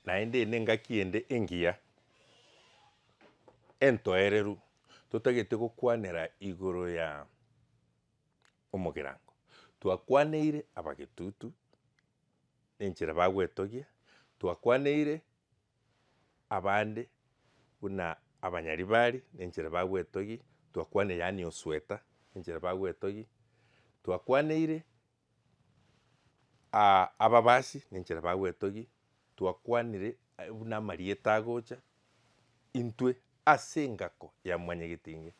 Naende nengaki ende engiya, entoereru, totagete gokwanera igoro ya omogerango. Twakwaneire abagetutu nenchera bagwetogia, twakwaneire abande buna abanyaribari nenchera bagwetogia, twakwaneire yaani osweta enchera bagwetogia, twakwaneire Aa ababasi nenchera bagwetogia twakwanire buna amarieta agocha intwe ase engako ya mwanyagetenge.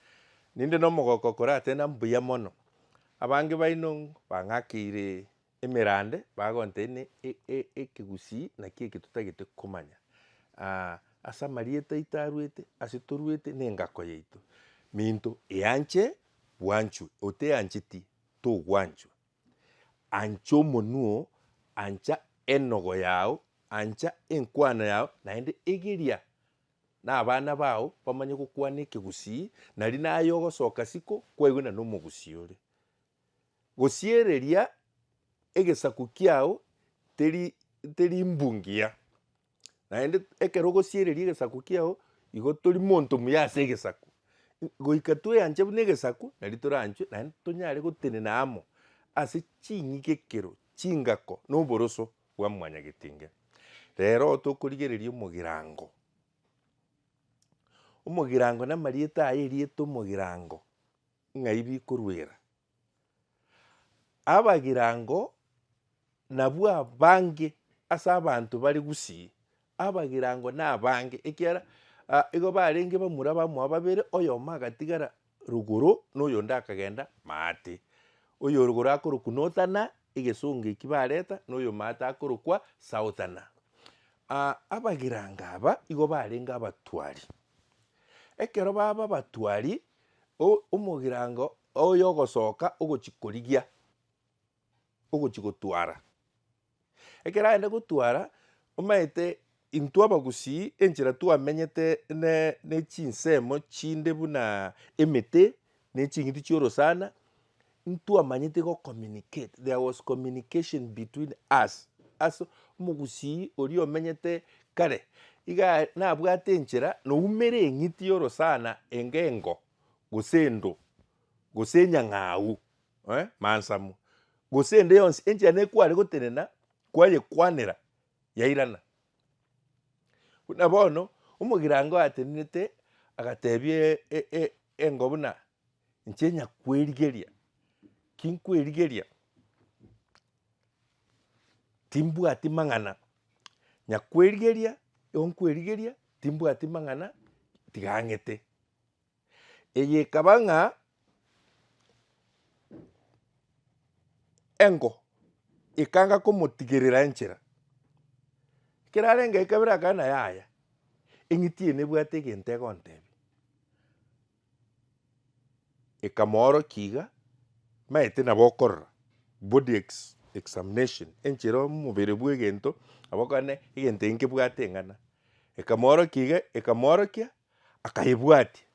Ninde na omogoko okore atena mbuya mono, abange baino ng'o bang'akeire emerande bagontebia ne e- e- ekegusii naki eke totagete komanya aa ase amarieta aito arwete ase torwete na engako yaito. Minto eanche bwanchwe oteancheti. togwanchwa. Ancha omonwa oo, ancha enogo yao, ancha enkwana yao, naende egeria nabana bao bamanye gokwana ekegusii, nari naye ogosoka siko kwaigwena nomogusii ore. Gosiereria egesaku kiao teri teri mbungiya. Naende ekero ogosiereria egesaku kiao, igo tori monto muya ase egesaku. Goika tweanche buna egesaku, nari toranchwe naende tonyare gotenena amo ase ching'igekero, chingako na oboroso bwa mwanyagetinge. Rero tokorigereria omogirango, omogirango na amarieta aye erieta omogirango ng'ai bikoruera. Abagirango nabwo abange ase abanto bare gusii, abagirango nabange, ekiagera igo barenge bamura bamoa babere, oyomo agatigara rogoro na oyonde akagenda maate. Oyorogoro akorokwa Northerner egesongo ekio bareta, na oyomaate akorokwa Southerner. abagirango aba igo barenge abatwari, ekero baba abatwari, o- omogirango Oyo ogosoka ogochia korigia, ogochia gotwara. Ekero aenda gotwara, omanyete intwe abagusii enchera twamenyete ne ne chinsemo chinde buna emete, ne ching'iti chia orosana, ntwamanyete go communicate, there was communication between us, as omogusii oria omenyete kare, igaa nabwate enchera noumere eng'iti ya orosana enga engo, gose endo, gose enyang'au, eh, mansamo, gose ende yonsi enchera nekware gotenena kwayekwanera yairana. Buna bono omogirango atenenete agatebia e- e- e- engo buna inche nyakweerigeria, ki nkweerigeria? timbwati mang'ana, nyakweerigeria, igo nkweerigeria, timbwati mang'ana, tiga ang'ete. Eye ekaba ng'a engo ekanga komotigerera enchera. Ekero arenge ekabere akabera na yaya, eng'iti eye nebwate egento egontebia. Ekamoorokia iga, maete nabo okorora body ex- examination enchera omobere bwa egento, nabo okonyora egento eke nkebwate eng'ana. Ekamoorokia iga, ekamoorokia akaebwatia,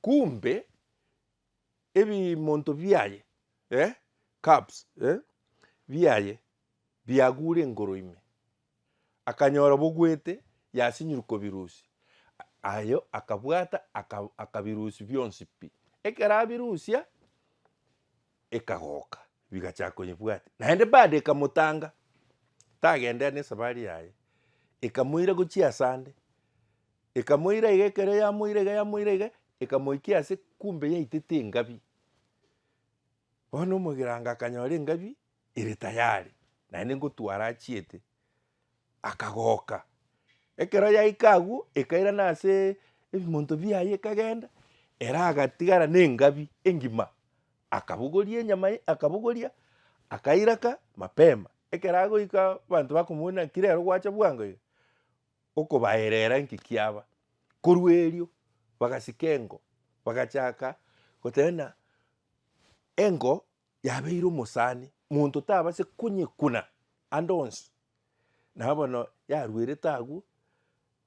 kumbe ebimonto biaye, eh, cups, eh, biaye biagure engoro ime. Akanyora bogwete, yasinyirwe kobirusia. Aye akabwata aka- akabirusia bionsi pi. Ekero abirusia. ekagoka bigacha konyebwati naende bado ekamotanga tagenderea nesafari yaye ekamoira gochia asande ekamoira iga ekero yamoira iga yamoira iga ekamoikia ase kumbe yaitete engabi bono omogera anga akanyora engabi ere tayari naende ngotwara achiete akagoka. Ekero yaika agwo, ekairana ase ebimonto biaye ekagenda, ere agatigara na engabi engima, akabogoria enyama ye, akabogoria, akairaka mapema. Ekero agoika abanto bakomwona ng'aki rero gwacha bwango iga, okobaerera ng'aki kiaba. Korwa erio, bagasika engo, bagachaka goteba ng'a engo Yabeire omosani, monto tabase konyekuna ande onsi. Nabo bono yaruerete agwo,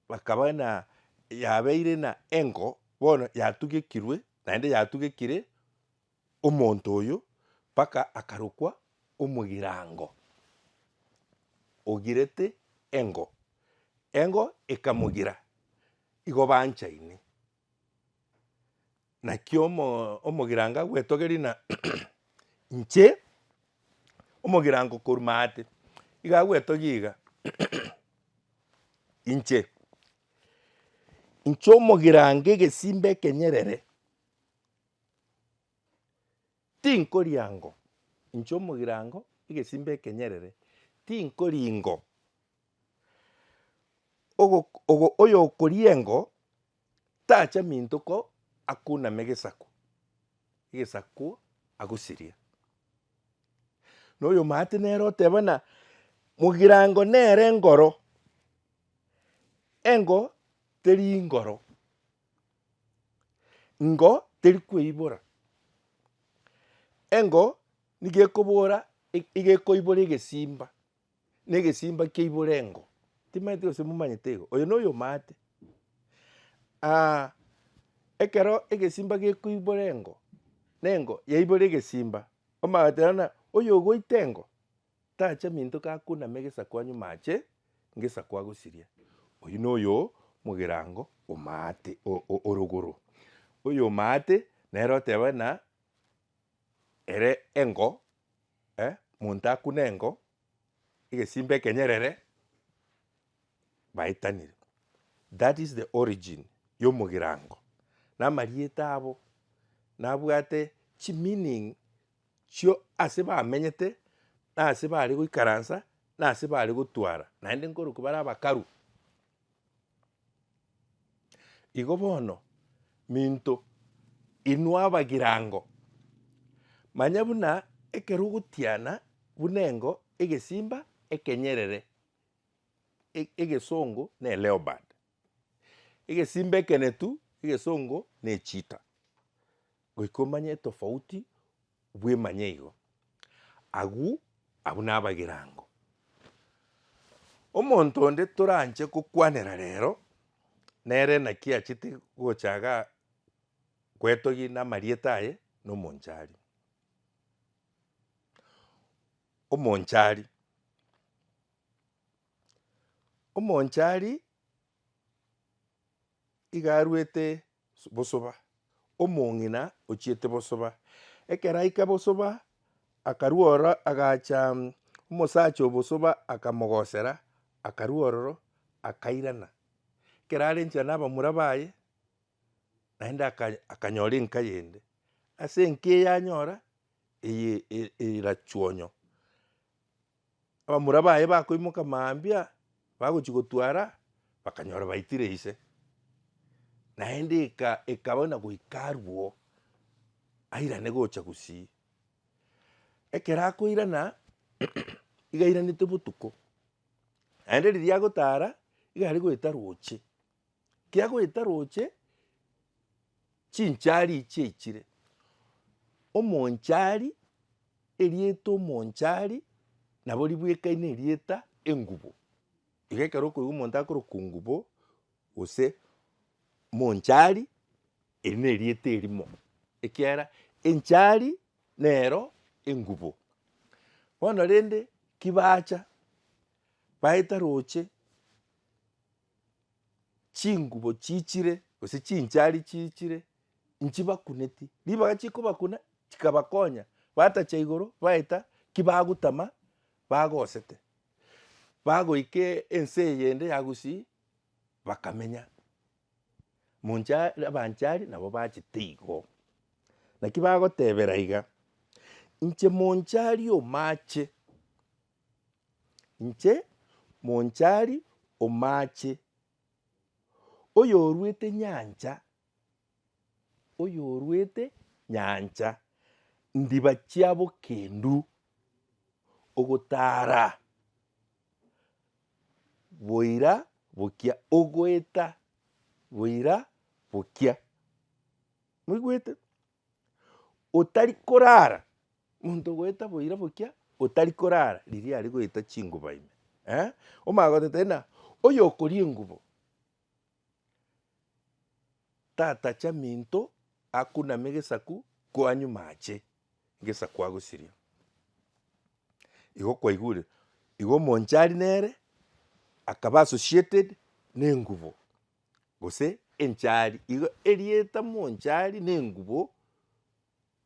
bakaba na yabeire na engo, bono yatugekirwe, naende yatugekire omonto oyo mpaka akarokwa omogirango, ogirete engo, engo ekamogira, igo banchaine. Naki omogirango agwetogerie ng'a inche omogirango korwa maate, igo agwetogia iga inche, inche omogirango egesimba ekenyerere. Tinkoria ngo, inche omogirango, egesimba ekenyerere, tinkoria ngo, ogo, ogo, oyokoria engo tacha minto ko akuname egesaku, egesaku agosiria. Na oyomwate nere ote bana mogirango nere ngoro, engo teri ngoro. Engo teri kweibora. Engo nigo ekobora igo ekoibora egesimba na egesimba keibora engo. Timanyete gose momanyete igo. Oyo noyo omate. ekero egesimba gekoibora engo na engo yaibora egesimba, omanyete rero buna oyo ogoita engo. Tacha minto kakunama egesaku anyuma ache ngesaku agosiria. Oyio noyo mogerango omaate orogoro. Oyo omaate nere oteba ng'a ere engo eh monto akune engo egesimba ekenyerere baetanire. That is the origin ya omogerango. Namarieta abo nabwate chimeaning chio ase bamenyete, na ase bare goikaransa, na ase bare gotwara, naende nkorokwa bare abakaru. Igo bono, minto inwe abagirango, manya buna ekero ogotiana buna engo, egesimba, ekenyerere, e- egesongo ne leopard, egesimba ekenetu, egesongo ne cheetah. Goika omanye etofauti bwemanye igo. Agwo abwo nabagirango. Omonto onde toranche gokwanera rero nere naki achete gochaga gwetogia namarieta aye na omonchari. Omonchari, omonchari. Iga aruete bosoba, omong'ina ochiete bosoba. Ekero aika bosoba, akarua ororo agacha omosacha o bosoba akamogosera, akarua ororo akairana. Ekero are nchera nabamura baye, naende akanyora enka yende. Ase enka eyanyora, eye erachuonyo. Abamura baye bakoimoka mambia, bagochia gotwara, bakanyora baitire ise. Naende eka ekaba buna goika arwo, airane gocha gusii. Ekero akoirana, iga airanete botuko, naende riria agotara, iga aria goeta roche. Kiagoeta roche chinchari ichie ichire, omonchari, erieta omonchari nabo ribwekaine erieta engubo. Iga ekero okoigwa omonto akoroka ongubo gose monchari eri nerieta erimo ekiagera enchari nero engubo. Bono rende kibacha baeta roche. chingubo chiichire gose chinchari chiichire nchibakuneti, ribaga chikobakuna chikabakonya batacha igoro baeta ki bagotama bagosete, bagoika ense eyende ya Gusii bakamenya. Moncha abanchari nabo bachete igo, naki bagotebera iga, inche monchari omache. Inche monchari o maache, oyorwete nyancha, oyorwete nyancha, ndiba chia bokendu, ogotara boira bokia, ogoeta boira bokia. Moigwete? otari korara, monto ogoeta boira bokia otari korara riria are goeta chinguba ime eh, omagoteba ng'a oyo okoria engubo tatacha minto akuname gesaku kwanyuma ache gesaku agosiria. Igo kwaigure, igo omonchari nere akaba associated nengubo. gose enchari iga erieta monchari na engubo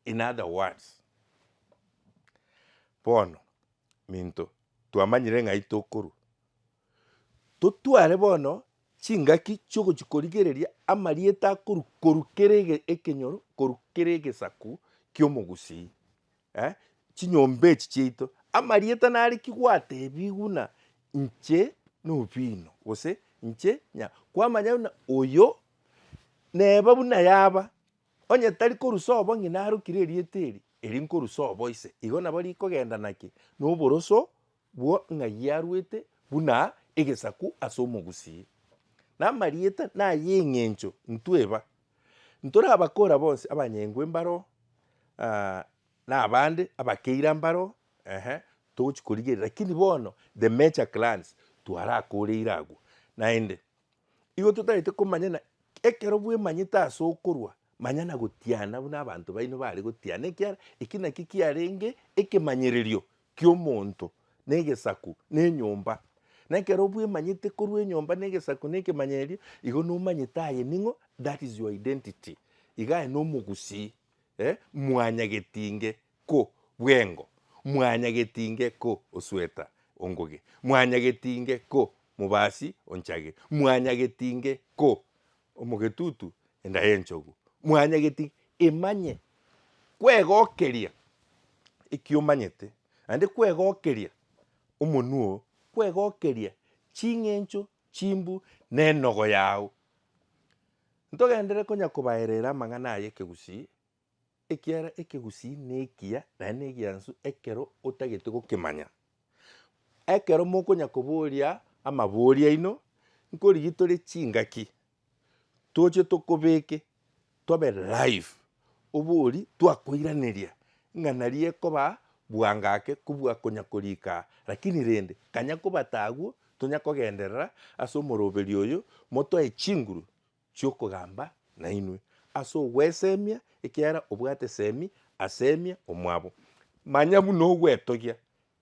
in other words. Bono minto twamanyire ng'ai tokorwa, totware bono chingaki chiogochi korigereria amarieta akorwa korwa kera ege ekenyoro korwa kera egesaku ki'omogusii. Eh, chinyomba echi chiaito, amarieta nariki gwatebigwa na inche nobino, gose inche nya, kwamanya buna oyo neba buna yaba, onye tari korusa obo ng'ina arokire erieta eri, eri nkorusa obo ise, igo nabo rikogenda naki? Noboroso Bwo ng'ai yarwete buna egesaku ase omogusii, na amarieta nay'eng'encho ntweba. Ntorabakora bonsi abanyengwe mbaro, na abande abakeira mbaro, ehe, togochi korigereria, lakini bono the major clans twarakoreire agwo. Naende, igo totagete komanya na ekero bwemanyete ase okorwa, manya na gotiana buna abanto baino bare gotiana ekiara eki nakio kiarenge ekemanyererio ki'omonto negesaku nenyomba, na ekero bwemanyete korwa enyomba negesaku na ekemanyerio, igo nomanyete aye ning'o, that is your identity, iga aye nomogusii, eh, mwanyagetinge ko bwengo, mwanyagetinge ko osweta ongoge, mwanyagetinge ko mobasi onchage, mwanyagetinge ko Omogetutu enda y'enchogu. Mwanyageti emanye kwegokeria eki omanyete, naende kwegokeria omonwa oo, kwegokeria ching'encho chimbu nenogo yao. Ntogenderere konya kobaereera amang'ana aya ekegusii. ekiara ekegusii nekiya naende negiansu ekero otagete gokemanya. Ekero mokonya koboria amabori aino, nkorigi tore chingaki, toche tokobeke tobe live, obori twakoiraneria ng'a naria ekoba bwanga ake kobua konya korika aa. Rakini rende kanya kobata agwo, tonya kogenderera ase omoroberio oyo motoe chinguru chi'okogamba nainwe ase ogweseemia, ekiagera obwate eseemi aseemia omwabo. Manya buna ogwetogia,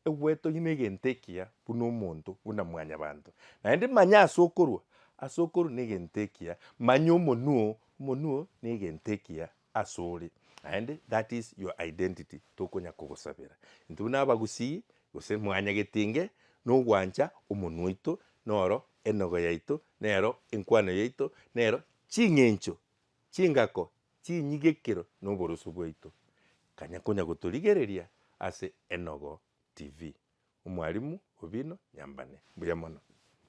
egwetogia negento ekiya buna omonto, buna mwanyabanto. Naende manya ase okorua, ase okorua negento ekiya, manya omonwa, omonwa negento ekiya asore, naende that is your identity tokonya kogosabera intwe buna abagusii gose mwanyagetinge nogwancha omonwa oito noro enogo yaito nero enkwano yaito nero ching'encho chingako chinyigekero na oboroso bwaito kanya konya gotorigereria ase Enogo TV. Omwalimu Obino Nyambane mbuya mono.